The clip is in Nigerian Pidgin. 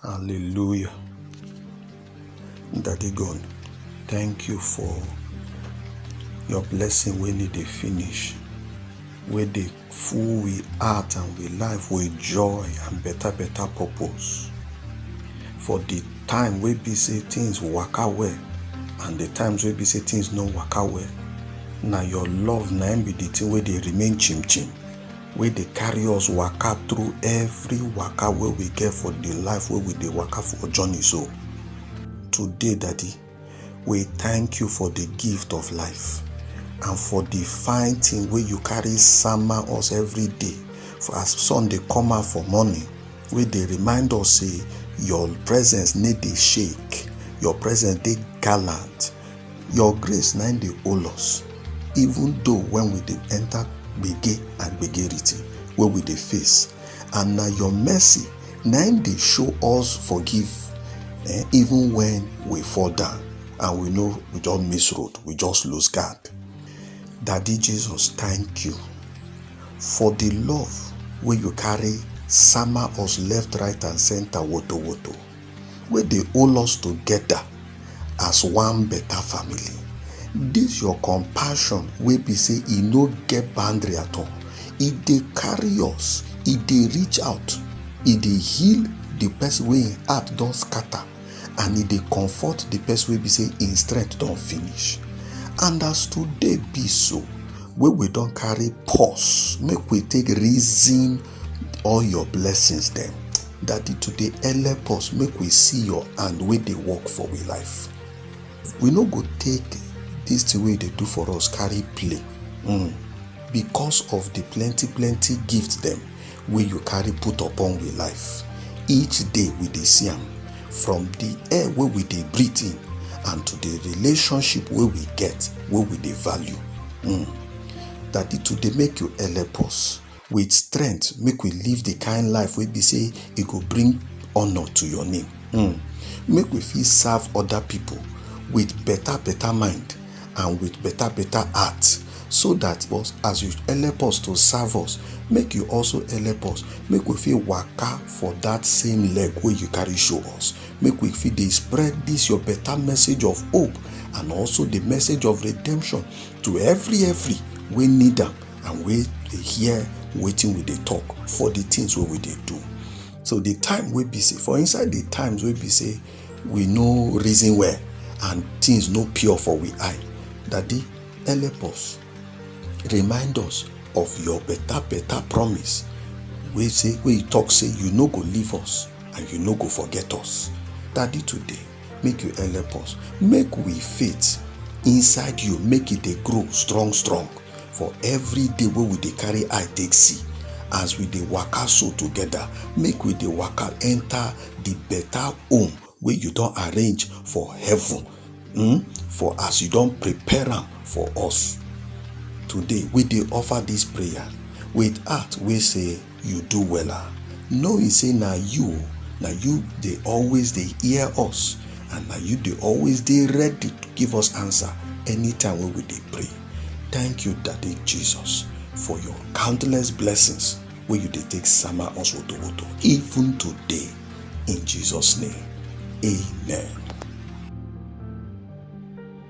Hallelujah. Daddy God, thank you for your blessing when it dey finish, wey dey full with heart and with life with joy and better better purpose. For the time wey be say things waka well and the times wey be say things no waka well, na your love na im be the thing wey dey remain chim chim. wey dey carry us waka through every waka wey we get for the life wey we dey waka for journey so today daddy we thank you for the gift of life and for the fine thing wey you carry sama us every day for as sun dey come out for morning wey dey remind us say your presence need dey shake your presence dey gallant your grace na im dey hold us even though when we dey enter gbege and gbegerity wey we dey face and na your mercy na im dey show us forgive eh, even when we fall down and we know we just miss road we just lose guard daddy jesus thank you for the love wey you carry sama us left right and center woto woto wey dey hold us together as one better family. This your compassion wey be say e no get boundary at all, e dey carry us, e dey reach out, e dey heal the person wey im heart don scatter and e dey comfort the person wey be say im strength don finish. And as today be so, wey we don carry pause make we take reason all your blessings dem. Daddy, to dey help us make we see your hand wey dey work for we life. We no go take this thing wey you dey do for us carry play mm. because of the plenty plenty gift dem wey you carry put upon we life. Each day we dey see am from the air wey we dey breathe in and to the relationship wey we get wey we dey value. Mm. Daddy, to dey make you help us with strength make we live the kind life wey be say e go bring honour to your name mm. make we fit serve other people with better better mind and with better better heart so that boss as you help us to serve us make you also help us make we fit waka for that same leg wey you carry show us make we fit dey spread this your better message of hope and also the message of redemption to every every wey need am and wey dey hear wetin we dey talk for the things wey we dey do so the time wey be say for inside the times wey be say we no reason well and things no pure for we eye daddy help us remind us of your better better promise wey say wey you talk say you no go leave us and you no go forget us daddy today make you help us make we faith inside you make e dey grow strong strong for every day wey we dey carry eye take see as we dey waka so together make we dey waka enter the better home wey you don arrange for heaven hmm, for as you don prepare am for us today we dey offer this prayer with heart wey say you do wella knowing say na you na you dey always dey hear us and na you dey always dey ready to give us answer anytime wey we dey pray thank you daddy jesus for your countless blessings wey you dey take sama us wotowoto even today in jesus name amen